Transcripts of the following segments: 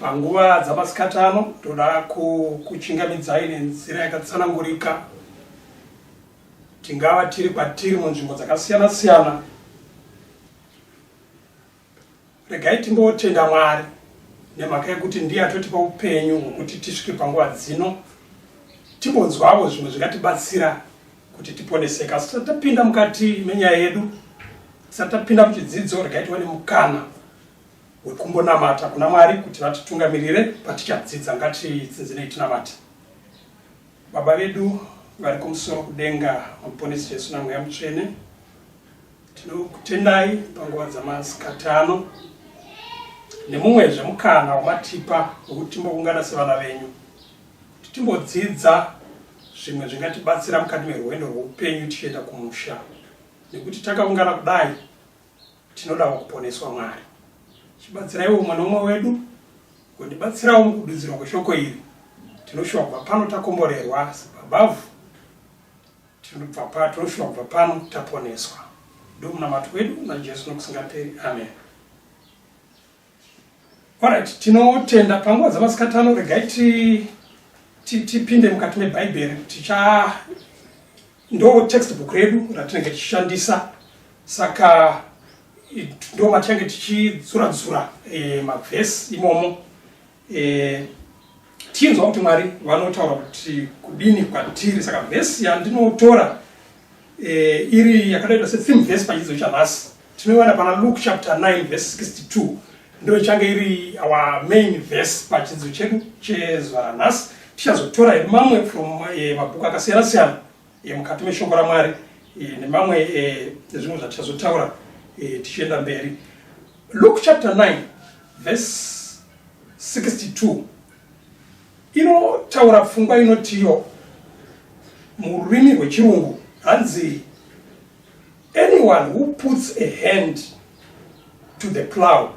Panguva dzamasikati ano toda kukuchingamidzai nenzira yakatsanangurika. Tingava tiri kwatiri munzvimbo dzakasiyana siyana. Regai timbotenda Mwari nemhaka yekuti ndiye atotipa upenyu hwekuti tisvike panguva dzino timbonzwavo zvimwe zvingatibatsira kuti tiponeseke asi tisati tapinda mukati menyaya yedu tisati tapinda muchidzidzo regai tiwane mukana hwekumbonamata kuna Mwari kuti vatitungamirire patichadzidza. Ngatitsinzinei tinamate. Baba vedu vari kumusoro kudenga, Muponesi Jesu naMweya Mutsvene, tinokutendai panguva dzamasikati ano nemumwezve mukana wamatipa wekuti timboungana sevana venyu kuti timbodzidza zvimwe zvingatibatsira mukati merwendo rweupenyu tichienda kumusha nekuti takaungana kudai Tinodawo kuponeswa Mwari. Chibatsiraiwo umwe nomwe wedu kundibatsirawo mukududzirwa kweshoko iri. Tinoshuwa kubva pano takomborerwa sababavhu. Tinobva pa tinoshuwa kubva pano taponeswa. Ndomunamato wedu naJesu nokusingaperi. Amen. Alright, tinotenda panguva dzamasikati ano regai tipinde mukati mebhaibheri ticha ndo textbook redu ratinenge tichishandisa saka ndo matinenge tichidzuradzura e, mavhesi imomo eh, tinzwa kuti mwari vanotaura kuti kudini kwatiri saka vhesi yandinotora eh, iri yakadaidwa setheme vhesi pachidzidzo chanhasi tinoiwana pana luke chapter 9 vhesi 62 ndo ichange iri our main vhesi pachidzidzo chedu chezuva ranhasi tichazotora mamwe from eh, mabhuku akasiyana siyana e, mukati meshoko ramwari e, nemamwe e, ezvimwe zvatichazotaura e, tichienda mberi luke chapter 9 verse 62 inotaura pfungwa inotiyo mururimi rwechirungu hanzi anyone who puts a hand to the plow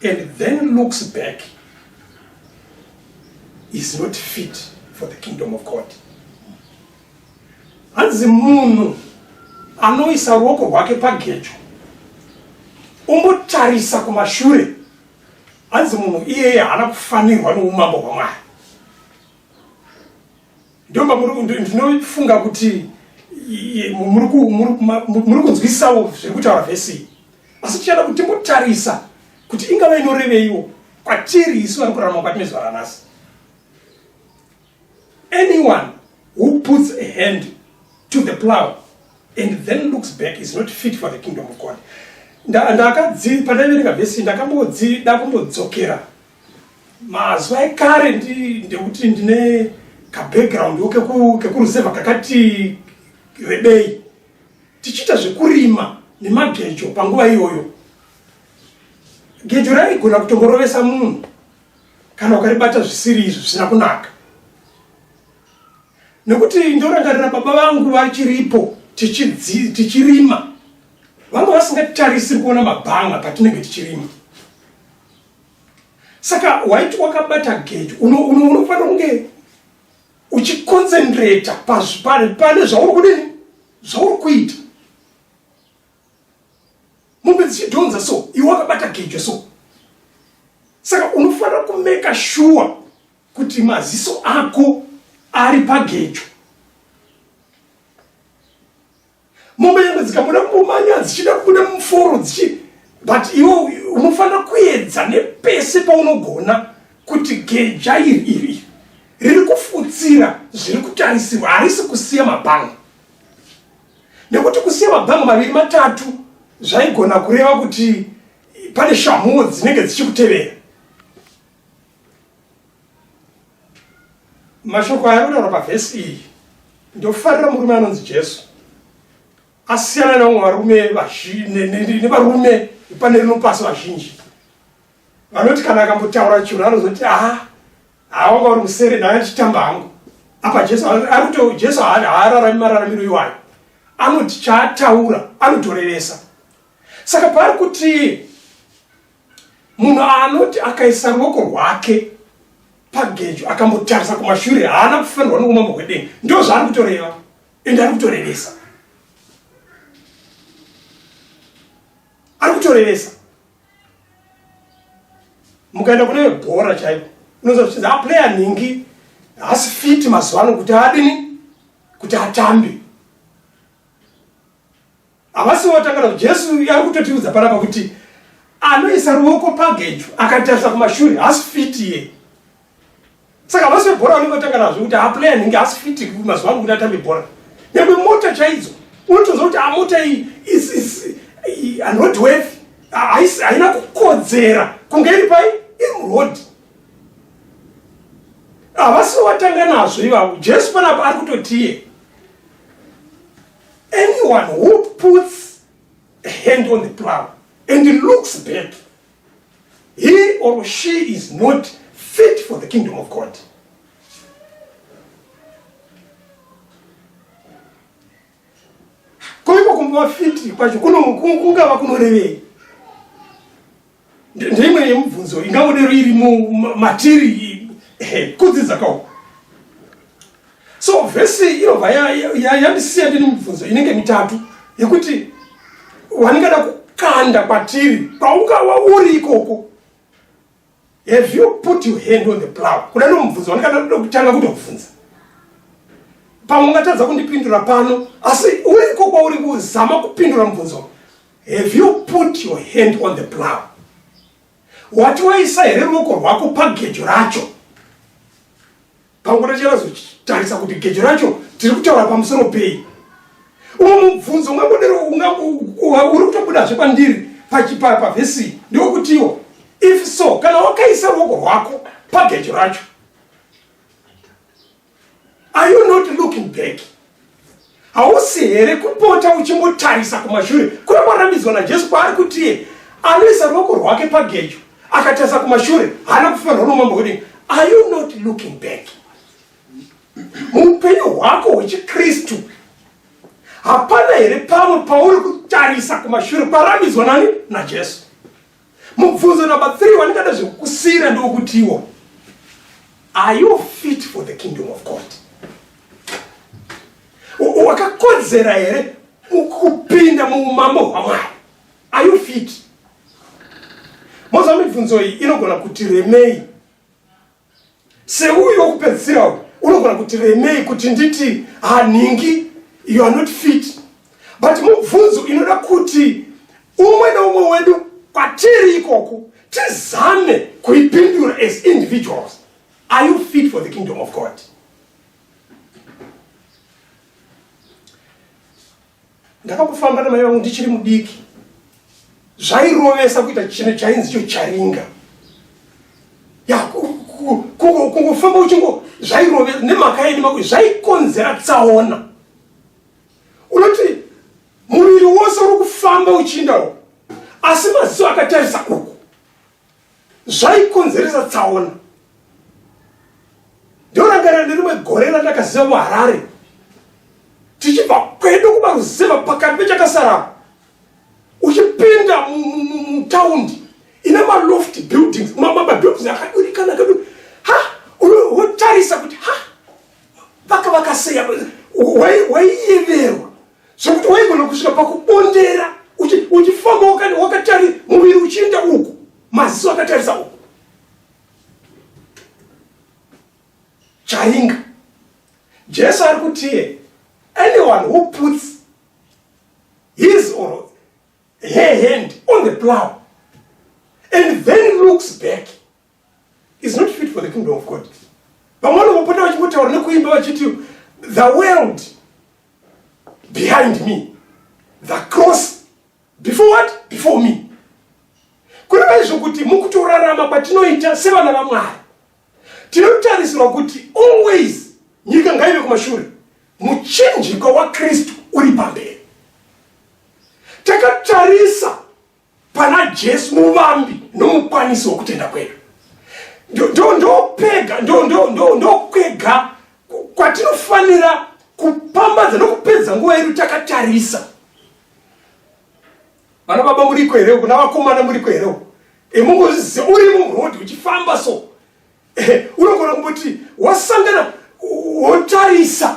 and then looks back is not fit for the kingdom of God. Hanzi munhu anoisa ruoko rwake pagejo umbotarisa kumashure, hanzi munhu iyeye haana kufanirwa noumambo hwaMwari. Ndoma ndinofunga kuti muri kunzwisisawo zviri kutaura vhesi iyi asi tichada kuti timbotarisa kuti ingava inoreveiwo kwatiri isu vari kurarama kwatine zuva ranhasi anyone who puts a hand to the plow and then looks back is not fit for the kingdom of god ndakadzi pandaiverenga vhesi ndakambodzida kumbodzokera mazuva ekare ndekuti ndine kabackground wo kekuruzevha kakati rebei tichiita zvekurima nemagejo panguva iyoyo gejo raigona kutongorovesa munhu kana ukaribata zvisiri izvi zvisina kunaka nekuti ndorangarira baba vangu vachiripo tichirima vanga vasingatarisiri kuona mabhanga patinenge tichirima saka waiti wakabata gejo unofanira uno, uno kunge uchiconcentrata pane zvauri kudini zvauri kuita mombe dzichidhonza so iwe wakabata gejo so saka unofanira kumeka shuwa kuti maziso ako ari pagejo mombe yangu dzikabuda mumanya dzichida kubuda muforo dzichi but iwo unofanira kuedza nepese paunogona kuti geja iri iri riri kufutsira zviri kutarisirwa harisi kusiya mabhanga nekuti kusiya mabhanga maviri matatu zvaigona kureva kuti pane shamhuwo dzinenge dzichikutevera mashoko aya anotaura pavhesi iyi ndofarira murume anonzi jesu asiyana nevamwe varume nevarume pane rino pasi vazhinji vanoti kana akambotaura chinhu anozoti aa awanga uri musere dai achitamba hangu apa jesu ari kuto jesu haararami mararamiro iwayo anoti chaataura anotoreresa saka paari kuti Munhu anoti akaisa ruoko rwake pagejo akambotarisa kumashure haana kufanirwa noumambo hwedenga ndo zvaari kutoreva ende ari kutorevesa ari kutorevesa mukaenda kune bhora chaipo unoza kuchinzi aplayer nhingi haasi fiti mazuva ano kuti adini kuti atambe Havasi votanga navo. Jesu ari kutotiudza panapa kuti anoisa ruoko pagejo akatarisa kumashure haasi fiti iye. Saka havasi vebhora vanenge votanga nazvo kuti haplay anenge haasi fiti mazuva ano kuti atambe bhora. Nyangwe mota chaidzo unotoziva kuti amota iyi unroadworthy haina kukodzera kunge iri pai iri muroad havasi vatanga nazvo ivavo jesu panapa ari kutotiye Anyone who puts a hand on the plow and looks back, he or she is not fit for the kingdom of God. Koiko kumba fiti kwacho kungava kunorevei? Ndeimwe yemubvunzo ingangodero iri matiri eh, kudzidza kawo. So vhesi inobva yandisiya ndine mubvunzo inenge mitatu yekuti waningada kukanda kwatiri kwaungava uri ikoko have you put your hand on the plow kuda nomubvunzo wandikada kuda kutanga kutobvunza pamwe ungatadza kundipindura pano asi uriko kwauri kuzama kupindura mubvunzo Have you put your hand on the plow? Wati waisa here ruoko rwako pagejo racho? Panguva tachinazotarisa kuti gejo racho tiri kutaura pamusoro pei. Umwe mubvunzo ungabodero uri kutobudazve pandiri pavhesi ndokutiwo if so kana wakaisa ruoko rwako pagejo racho Are you not looking back? Hausi here kupota uchimbotarisa kumashure kuri kwarambidzwa naJesu kwaari kutiye anoisa ruoko rwake pagejo akatarisa kumashure haana kufanirwa nomambo hwedenga. Are you not looking back? Muupenyu hwako hwechiKristu hapana here pamwe pauri kutarisa kumashure kwarambidzwa nani naJesu? Mubvunzo number 3 wandingada zvekukusira ndokutiwo are you fit for the kingdom of God? Wakakodzera here kupinda muumambo hwaMwari? Are you fit? Moza mibvunzo iyi inogona kuti remei seuyu wokupedzisira uyu unogona kuti remei kuti nditi hanhingi you are not fit but mubvunzo inoda kuti umwe neumwe wedu kwatiri ikoku tizame kuipindura as individuals are you fit for the kingdom of god ndakambofamba namai vangu ndichiri mudiki zvairovesa kuita chino chainzi cho charinga ya kungofamba uchingo zvairovesa nemhaka yeni mako zvaikonzera tsaona unoti muviri wose uri kufamba uchiindawo asi maziso akatarisa uku zvaikonzeresa tsaona ndorangarira nerimwe gore randakaziva muharare tichibva kwedu kumaruzeva pakati pechakasara uchipinda mutaundi ine maloft buildings mabuildings akadurikana kadu ha wotarisa kuti ha vakavakaseya waiyeverwa zvekuti waigona kusvika pakubondera uchifamba wakatari muviri uchienda uku maziso akatarisa uku charinga jesu ari kutiye anyone who puts his or her hand on the plow and then looks back is not fit for the kingdom of God. Vamwe vanopota vachingotaura nekuimba vachiti the world behind me the cross before what before me kureva izvo kuti mukutorarama kwatinoita sevana vamwari tinotarisirwa kuti always nyika ngaive kumashure muchinjikwa wakristu uri pamberi takatarisa pana jesu muvambi nomukwanisi wokutenda kwedu ndopega ndokwega kwatinofanira kupambadza nokupedza nguva yedu takatarisa vana baba muriko here uku navakomana muriko here uku emungozize uri murodi uchifamba so eh, unogona kumboti wasangana wotarisa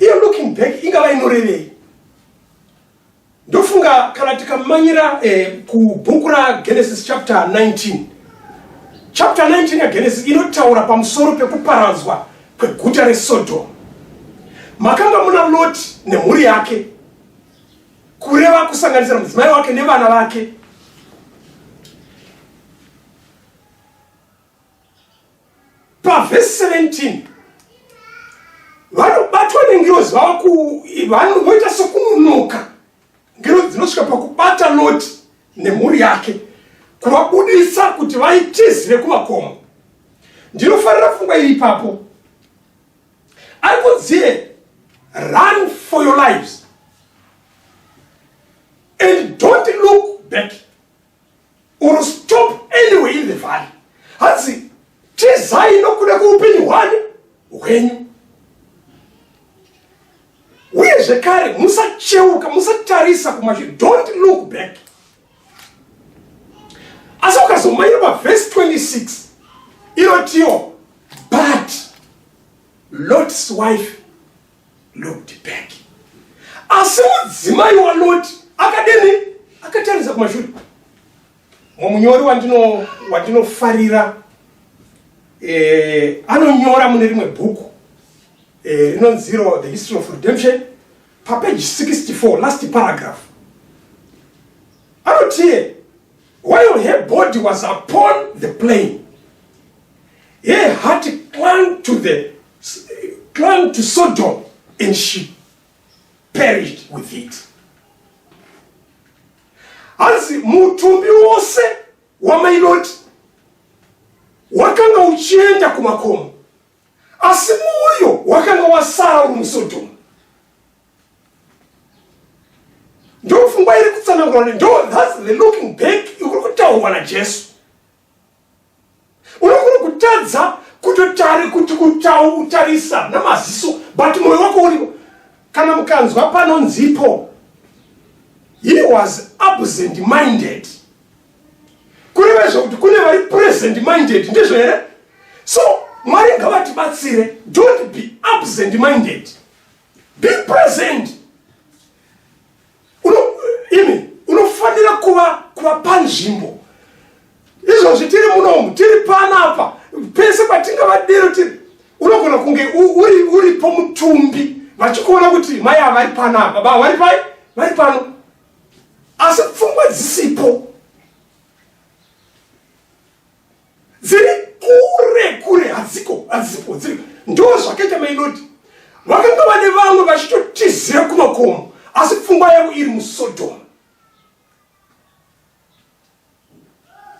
iyo looking back ingava inorevei ndofunga kana tikamanyira eh, kubhuku ragenesis chapter 19 chapter 19 yagenesis inotaura pamusoro pekuparadzwa kweguta resodom makanga muna loti nemhuri yake kureva kusanganisira mudzimai wake nevana vake pavhesi 17 vanobatwa nengirozi voita sokunonoka ngirozi dzinosvika pakubata loti nemhuri yake kuvabudisa kuti vaitizire kumakomo ndinofarira pfungwa iri ipapo ari kunzie run for your lives and don't look back or stop anyway in the valley hanzi tizai nokuda kweupenyu hwani hwenyu uye zvekare musacheuka musatarisa kumashure don't look back asi ukazomaira pavhesi 26 inotiwo but lot's wife looked back asi mudzimai waloti akadini akatarisa kumashure mumunyori wandino wandinofarira eh, anonyora mune rimwe bhuku eh, rinonziro eh, the history of redemption papeji 64 last paragraph anotie while her body was upon the plane her heart clung to the clung to Sodom and she perished with it. Hanzi mutumbi wose wamai Loti wakanga uchienda kumakomo, asi mwoyo wakanga wasara uri muSodom. Ndopfungwa iri kutsanangurwa, ndo that's the looking back ikuri kutaurwa naJesu. unogona kutadza kutotari kuti kutarisa namaziso but moyo wako uripo kana mukanzwa panonzipo he was absent minded kureva zvokuti kune vari present minded ndizvo here so mwari ngavatibatsire don't be absent minded be present imi unofanira kuva kuva panzvimbo izvozvi tiri munomu tiri panapa pese patinga vadero tiri unogona kunge uri uri pomutumbi vachikuona kuti mai havari panapa baba vari pai vari pano asi pfungwa dzisipo dziri kure kure hadziko hadzipo dziri ndo zvakaita mainodi vakanga vane vamwe vachitotizira kumakomo asi pfungwa yavo iri musodhoma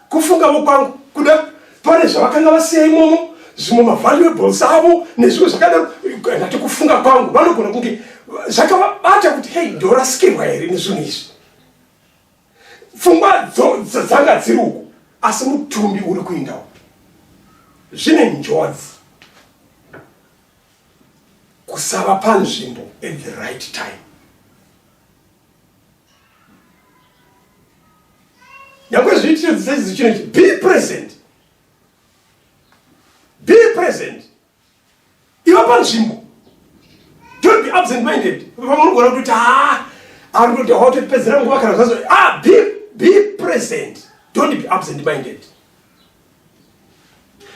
kufungavo kwangu kuda pane zvavakanga vasiya imomo zvimwe mavaluables avo nezvimwe zvakadaro ndati kufunga kwangu vanogona kunge zvakavabata kuti hei ndorasikirwa here nezvinhu izvi pfungwa dzanga dziri uku asi mutumbi uri kuindawo zvine njodzi kusava panzvimbo at the right time nyangwe zviitire dzisaizizvi chinochi be present be present iva panzvimbo don't be absent minded pamunogona kutoti haa ari kuti hawatotipedzera nguva kana zvazo ah be, be present don't be absent minded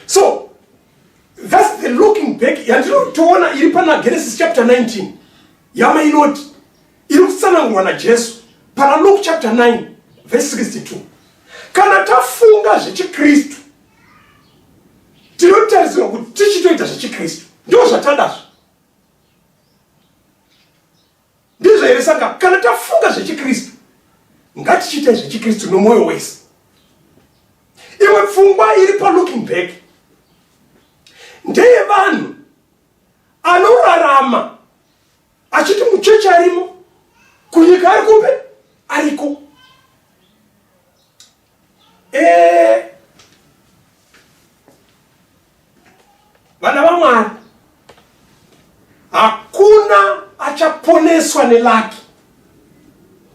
so thats the looking back yandinotoona iri pana genesis chapter 19 yama inoti iri kutsanangurwa najesu pana luke chapter 9 verse 62 kana tafunga zvechikristu tinotarisirwa kuti tichitoita zvechikristu ndo zvatadazvo ndizvo here saka kana tafunga zvechikristu ngatichiitai zvechikristu nomwoyo wese imwe pfungwa iri palooking back ndeye vanhu anorarama achiti muchechi arimo kunyika ari kupi ariko Eh. Vana vamwari hakuna achaponeswa nelaki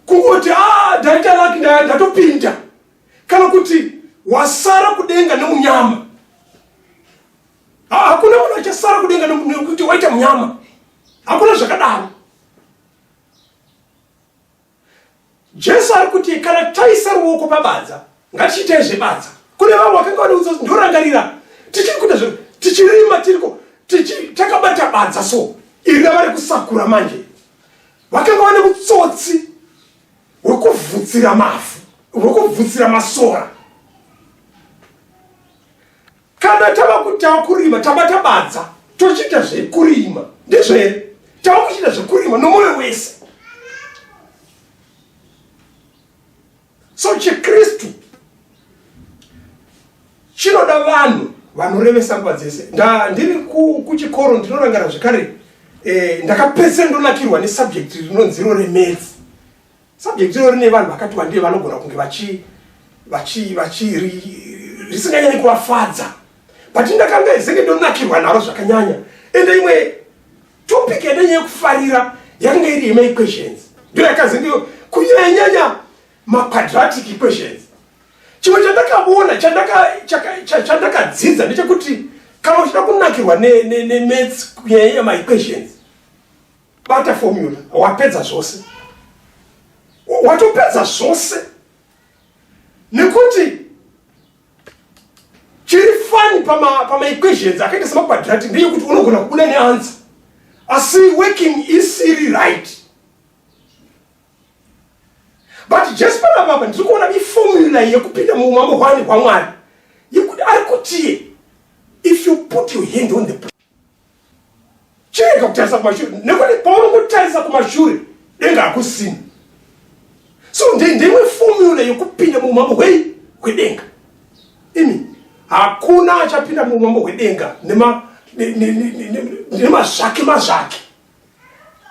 kungoti ah, ndaita laki ndatopinda kana kuti wasara kudenga neunyama ah, hakuna munhu achasara kudenga nekuti waita munyama hakuna zvakadaro Jesu ari kuti kana taisa ruoko pabadza ngatichiitei zvebadza. Kune vamwe vakanga vanoudza kuti ndorangarira tichiri kuita zvinhu tichirima tiriko takabata badza so iri ravari kusakura manje vakanga vane utsotsi hwekuvhutsira mavhu hwekuvhutsira masora kana tava kuti tava kurima taba tabadza tochiita zvekurima ndizvo here tava kuchiita zvekurima nomwoyo wese so chikristu chinoda vanhu vanorevesa nguva dzese ndiri kuchikoro ndinorangara zvekare eh, ndakapedzisira ndonakirwa nesubject rinonziro remetsi Subject iro rine vanhu vakati wandei vanogona kunge vachi vachi vachi risinganyanyi kuvafadza but ndakanga izenge ndonakirwa naro zvakanyanya ende imwe topic yadanye yekufarira yakanga iri yema equations ndo yakanzi ndiyo kunyanyanya maquadratic equations chimwe chandakaona chandakadzidza ndechekuti kana uchida kunakirwa nemats kunyanyanya maequations bata formula wapedza zvose watopedza zvose nekuti chiri fani pamaequations akaita semaquadrati ndeyekuti unogona kubuda neansa asi working isiri right but jesu panapapa ndiri kuona iformula yekupinda muumambo hwani hwamwari yekuti ari kutiye if you put your hand on the chirega kutarisa kumashure nekuti paunongotarisa kumashure denga hakusina so ndeimwe fomula yekupinda muumambo hwei hwedenga imi hakuna achapinda muumambo hwedenga nemazvake mazvake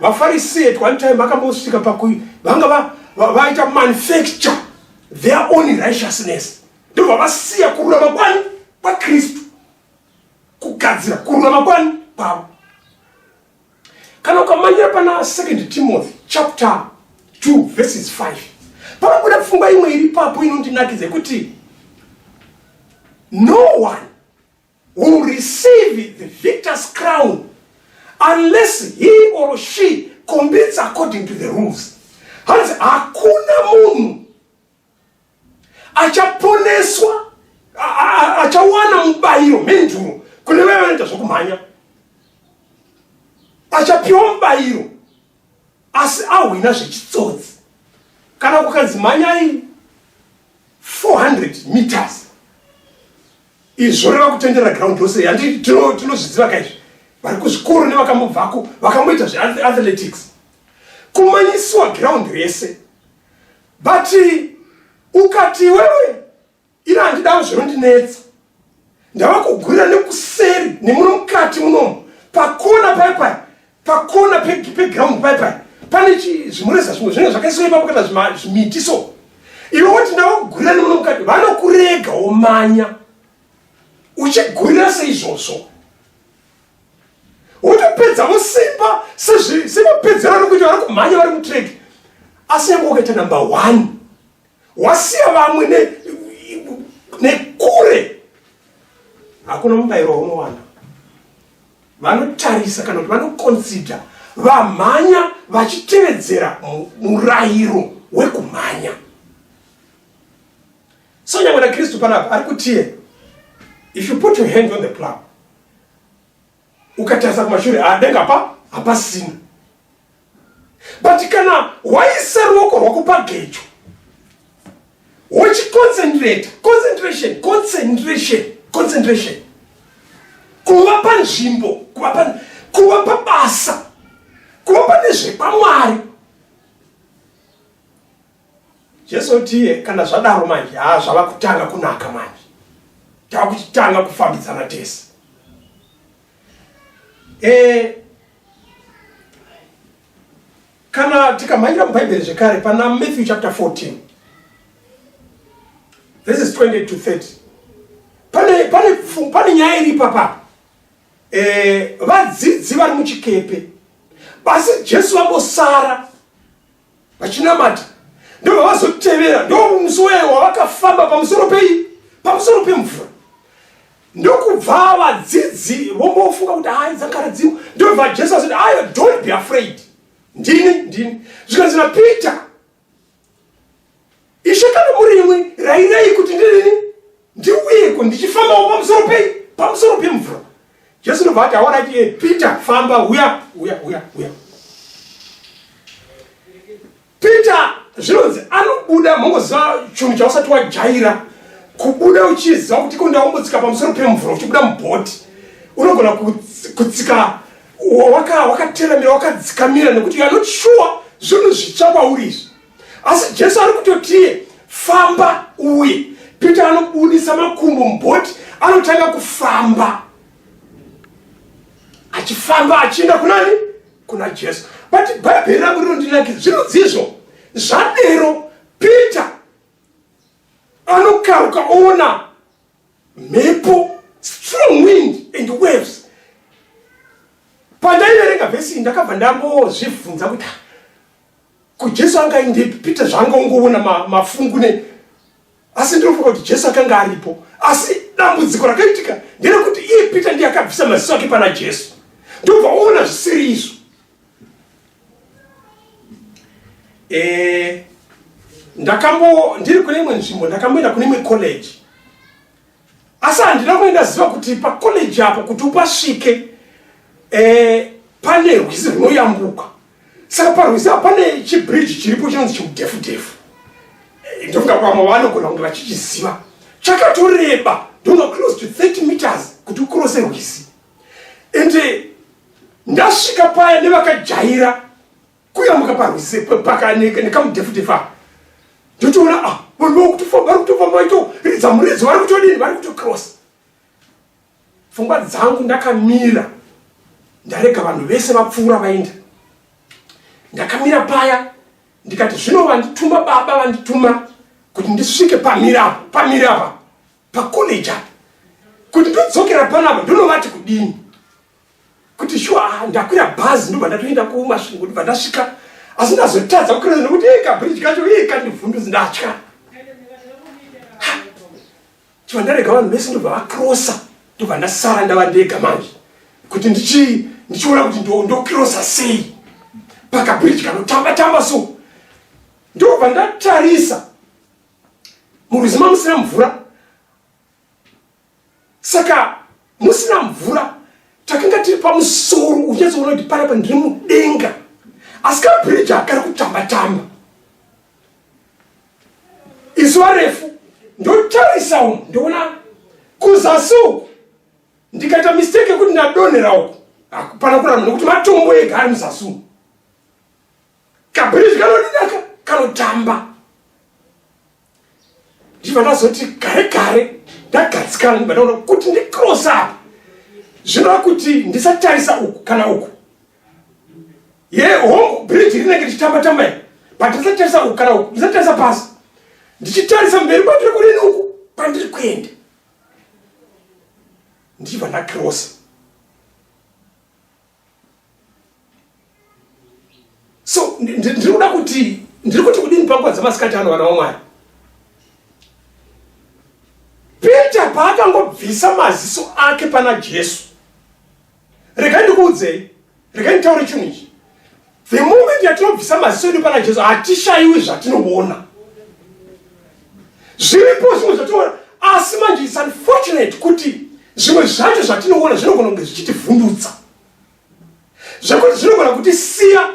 vafarisee at one time vakambosvika pakui vanga vaita manufacture their own righteousness ndobva vasiya kururama kwani kwakristu kugadzira kurwa makwani kwavo kana ukamanyira pana second timothy chapter 2 verses 5 panobuda pfungwa imwe iri papo inondinakidza yekuti no one will receive the victor's crown unless he or she combits according to the rules hanzi hakuna munhu achaponeswa achawana mubayiro menduro kune vaya vanoita zvokumhanya achapiwa mubayiro asi ahwina zvechitsotsi kana kukanzi mhanyai 400 meters izvo reva kutendera ground rose handi tinozviziva kaizvi vari kuzvikoro nevakambobvako vakamboita zveathletics kumanyisiwa ground rese but ukati iwewe ini handidawo zvinondinetsa ndava kugurira nekuseri nemuno mukati munomu pakona paipai pakona peground paipai pane zvimureza zvimwe zvinenge zvakaiswa ipapo kana zvimiti so iwe woti ndava kugurira nemuno mukati vanokurega womanya uchigurira seizvozvo wotopedzavo simba semapedzero ari kuita vari kumhanya vari mutrek asi yange wakaita number one wasiya vamwe nekure hakuna mubayiro waunowana vanotarisa kana kuti vanoconsider vamhanya vachitevedzera murayiro wekumhanya so nyangwe nakristu panapa ari kutiye if you put your hand on the plow ukatarisa kumashure adenga pa hapasina but kana waisa ruoko rwako pagejo wochiconcentrate concentration concentration concentration kuva panzvimbo kuva pa kuva pabasa kuva pane zvekwamwari Jesu tiye kana zvadaro manje haa zvava kutanga kunaka manje tava kuchitanga kufambidzana tese e, kana tikamhanyira mubhaibheri zvekare pana matthew chapter 14 this is 20 to 30 pane, pane, pane nyaya iri ipapa e, eh, vadzidzi vari muchikepe basi jesu vambosara vachinamata ndobva vazotevera ndomusi weye wavakafamba pamusoro pei pamusoro pemvura ndokubva vadzidzi vombofunga kuti hai dzakaradziwa ndobva jesu azoti ayo don't be afraid ndini ndini zvikanzi napeter Ishe kana muri imwe rairai kuti ndirini ndiuyeko ndichifambawo pamusoro pei pamusoro pemvura jesu ndobva ati aona ati peter famba huya huya huya huya peter zvinonzi anobuda mongoziva chinhu chausati wajaira kubuda uchiziva kuti ko ndaombotsika pamusoro pemvura uchibuda mubhoti unogona kutsika wakateramira wakadzikamira nekuti you are not sure zvinhu zvitsva kwauri izvi asi jesu ari kutotiye famba uye peter anobudisa makumbo mubhoti anotanga kufamba achifamba achienda kunani kuna jesu but bhaibheri rangu rinondinakira zvirudzizvo zvadero peter anokaruka oona mhepo strong wind and waves pandaiverenga vhesi ndakabva ndambozvibvunza kuti Ko Jesu anga aindepi? Peter zvaanga ungoona ma, mafungu ne asi ndinofunga kuti Jesu akanga aripo. Asi dambudziko rakaitika nderekuti iye Peter ndiye akabvisa maziso ake pana Jesu. Ndobva oona zvisiri izvo. Eh ndakambo ndiri kune imwe nzvimbo ndakamboenda kune imwe college asi handina kuenda ziva kuti pacollege apo kuti upasvike eh, pane rwizi runoyambuka saka parwizi apa pane chibridge chiripo chinonzi chikudhefu dhefu eh, ndofunga kuti vamwe vanogona kunge vachichiziva chakatoreba ndona close to 30 meters kuti ukurose rwizi ende ndasvika paya nevakajaira kuyambuka parwizi pakaneke nekamudhefudefa ndotoona a ah, vanhu vakutofamba vari kutofamba vaito ridza muridzo vari kutodini vari kutocross pfungwa dzangu ndakamira ndarega vanhu vese vapfuura vaenda ndakamira paya ndikati zvino vandituma baba vandituma kuti ndisvike pamiri apa pamiri apa pacollege apa kuti ndodzokera panapa ndonovati kudini kuti shuwa ah, ndakwira bhazi ndobva ndatoenda kumasvingo ndobva ndasvika asi ndazotadza kukureza nokuti e kabridge kacho iye kandivhundudzi ndatya chiva ndarega vanhu vese ndobva vakrosa ndobva ndasara ndava ndega manje kuti ndichiona kuti ndokrosa sei pakabridge kanotamba tamba so ndobva ndatarisa muruzi mamusina mvura saka musina mvura takanga tiri pamusoro unyatsoona kuti panapa ndiri mudenga asi kabhiriji akari kutamba tamba izuva refu ndotarisa umu ndoona kuzasi uku ndikaita mistake yekuti ndadonhera uku hakupana kuramba nokuti matombo ega ari muzasi umu kabhiriji kanodidaka kanotamba ndiva ndazoti gare gare ndagadzikana ndiva ndaona kuti ndicross apa zvinova kuti ndisatarisa uku kana uku ye hongu bridge rinenge ndichitamba tamba i but ndisatarisa uku kana uku ndisatarisa pasi ndichitarisa mberi kwatiri kurini uku kwandiri kuenda ndiva ndacrossa so ndiri kuda kuti ndiri kuti kudini panguva dzamasikati ano vana wamwari peter paakangobvisa maziso ake pana jesu regai ndikuudzei regai nditaure chinhu ichi The moment yatinobvisa maziso edu pana Jesu hatishaiwi zvatinoona. Zviripo zvimwe zvatinoona asi manje it's unfortunate kuti zvimwe zvacho zvatinoona zvinogona kunge zvichitivhundutsa zvekuti zvinogona kuti siya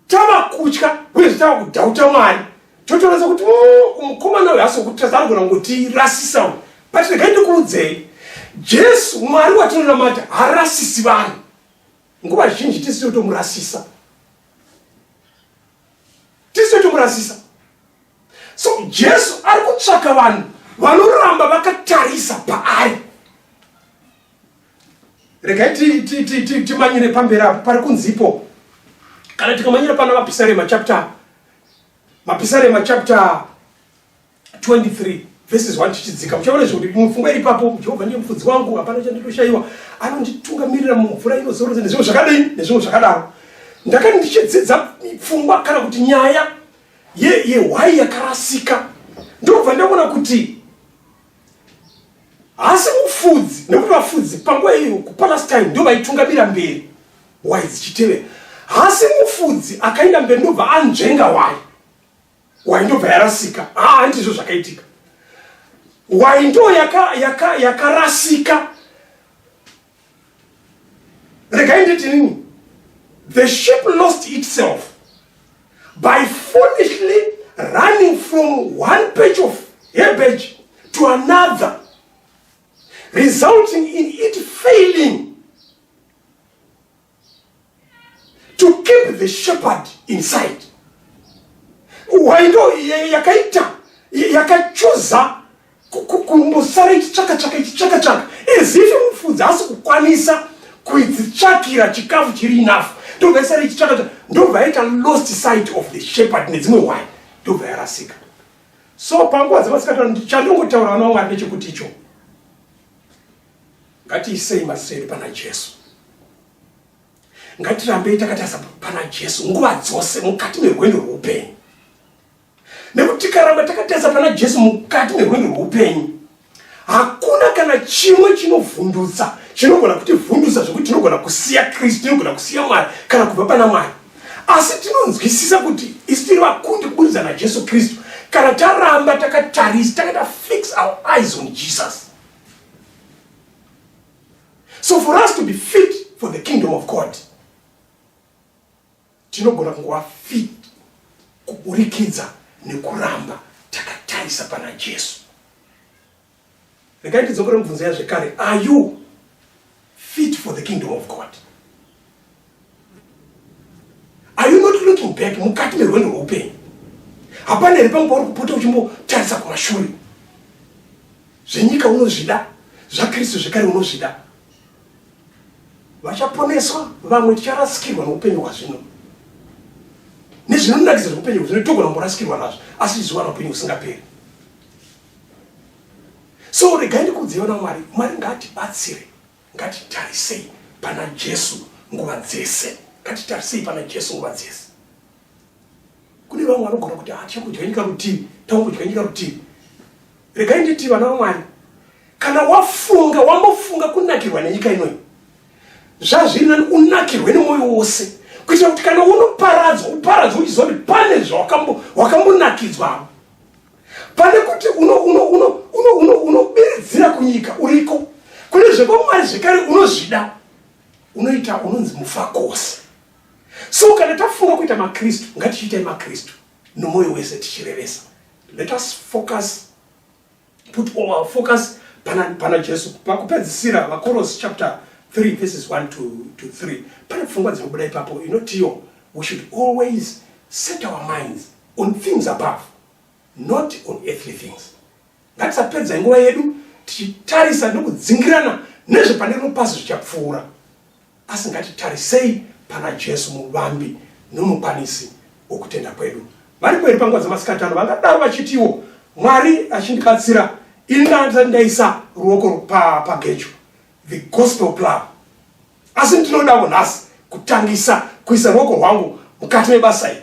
tava kutya uye zvitava kudhauta mwari totoratsa kuti oh, mukomana uyo hasi wokutadza anogona kungotirasisa u but regai ndikuudzei jesu mwari watinonamata harasisi vanhu nguva zhinji tisi totomurasisa tisi totomurasisa so jesu ari kutsvaka vanhu vanoramba vakatarisa paari regai timanyire pamberi apo pari kunzipo kana tikamanyira pana mapisarema chapter mapisarema chapter 23 verses 1 tichidzika muchaona zvekuti mupfungwa iri papo jehovha ndiye mufudzi wangu hapana chandinoshaiwa anonditungamirira mumvura inozorodza nezvimwe zvakadai nezvimwe zvakadaro ndakati ndichidzidza pfungwa kana kuti nyaya yehwai ye yakarasika ndobva ndaona kuti haasi mufudzi nekuti vafudzi panguva iyo kupalast time ndo vaitungamira mberi hwai dzichitevera haasi mufudzi akaenda mberi ndobva anzvenga hwai Why ndobva yarasika? Ah, ndizvo zvakaitika. Why ndo yaka yaka yakarasika? Regai nditi nini? The ship lost itself by foolishly running from one patch of herbage to another, resulting in it failing to keep the shepherd inside why ndo yakaita yakachuza kumbosara ichitsvakatsvaka ichitsvakatsvaka as if mufudzi asi kukwanisa kuitsvakira chikafu chiri enough ndobva isara ichitsvakatsvaka ndobva yaita lost sight of the shepherd nedzimwe wine ndobva yarasika so panguva dzemasikatano chandongotaura vana wangu ari nechekuti ichoo Ngatiisei mazita edu pana Jesu. Ngatirambei takatarisa pana Jesu nguva dzose mukati merwendo rwoupenyu. Nekuti tikaramba takatarisa pana Jesu mukati merwendo rwoupenyu, hakuna kana chimwe chinovhundutsa chinogona kutivhundutsa zvekuti tinogona kusiya Kristu, tinogona kusiya Mwari kana kubva pana Mwari. Asi tinonzwisisa kuti isu tiri vakundi kuburidza naJesu Kristu kana taramba takatarisa, takata fix our eyes on Jesus. so for us to be fit for the kingdom of god tinogona kungova fit kuburikidza nekuramba takatarisa pana jesu regai ndidzokere mubvunzo yazvekare are you fit for the kingdom of god Are you not looking back mukati merwendo rweupenyu? Hapana here panguva uri kupota uchimbotarisa kumashure? Zvenyika unozvida, zvaKristu zvekare unozvida. Vachaponeswa vamwe ticharasikirwa noupenyu hwazvino nezvinonakidza zveupenyu hwazvino togona kumborasikirwa nazvo asi tichizowana upenyu husingaperi so regai ndikuudzei vana mwari mwari ngaatibatsire Ngatitarisei pana Jesu nguva dzese. Ngatitarisei pana Jesu nguva dzese. Kune vamwe vanogona kuti ah, tichakudya nyika rutivi, takudya nyika rutivi. Regai nditi vana vaMwari, kana wafunga wambofunga kunakirwa nenyika inoyi, zvazviri nani unakirwe nemwoyo wose kuitira kuti kana unoparadzwa uparadzwa uchiziva kuti pane zvawakambonakidzwa pane kuti unobiridzira kunyika uriko kune zvekwamwari zvekare unozvida unoita unonzi mufakose so kana tafunga kuita makristu ngatichiitai makristu nomwoyo wese tichirevesa let us focus put all our focus pana, pana jesu pakupedzisira vakorosi chapter 3 verses 1 to, to 3 pane pfungwa dzinobuda ipapo inotiyo we should always set our minds on things above not on earthly things ngatisapedza nguva yedu tichitarisa nekudzingirana nezvepane rino pasi zvichapfuura asi ngatitarisei pana jesu muvambi nomukwanisi wokutenda kwedu vari kweri panguva dzamasikati ano vangadaro vachitiwo mwari achindibatsira ini ndaandisati ndaisa ruoko pagecho the gospel plan asi ndinodawo nhasi kutangisa kuisa ruoko rwangu mukati mebasa iri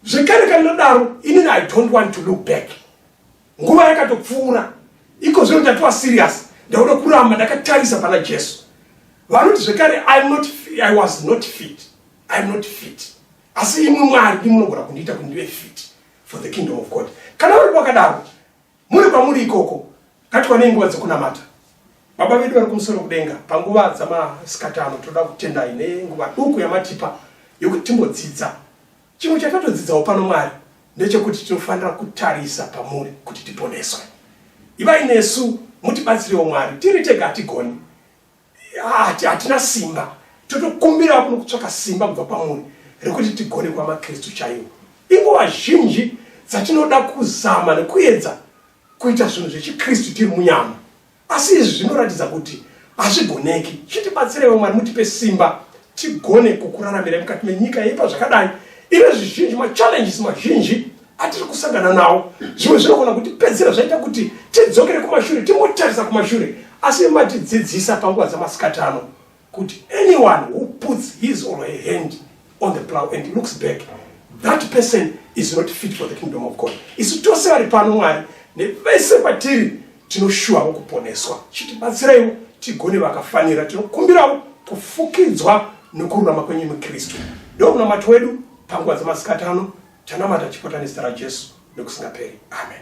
zvekare kana ndodaro inini i don't want to look back nguva yakatopfuura iko zvino ndatiwa serious ndauda kuramba ndakatarisa pana jesu vanoti zvekare not, i was not fit iam not fit asi imwe mwari ndimunogona kundiita kuti ndive fit for the kingdom of god kana vari vakadaro Muri kwamuri ikoko, ngatikwane nguva dzekunamata. Baba vedu vari kumusoro kudenga, panguva dzamasikati ano toda kutendai nenguva duku yamatipa yokuti timbodzidza. Chimwe chatatodzidzawo pano Mwari ndechekuti tinofanira kutarisa pamuri kuti tiponeswe. Ivai nesu mutibatsirewo Mwari, tiri tega hatigoni. Hati hatina simba, totokumbira kuno kutsvaka simba kubva kwamuri rekuti tigone kuva maKristu chaiwo. Inguva zhinji dzatinoda kuzama nekuedza kuita zvinhu zvechiKristu tiri munyama, asi izvi zvinoratidza kuti hazvigoneki. Chitibatsireiwo Mwari, mutipe simba tigone kukuraramirai mukati menyika yeipa zvakadai ine zvizhinji machallenges mazhinji atiri kusangana nawo zvimwe zvinogona kutipedzera zvaita kuti tidzokere kumashure tingotarisa kumashure asi matidzidzisa panguva dzamasikati ano kuti anyone who puts his or her hand on the plow and looks back that person is not fit for the kingdom of god isu tose vari pano mwari nevese patiri tinoshuwawo kuponeswa chitibatsiraiwo tigone vakafanira tinokumbirawo kufukidzwa nokururama kwenyu mukristu ndokunamati wedu panguva dzamasikati ano Tanamata chipotani zita raJesu nokusingaperi. Amen.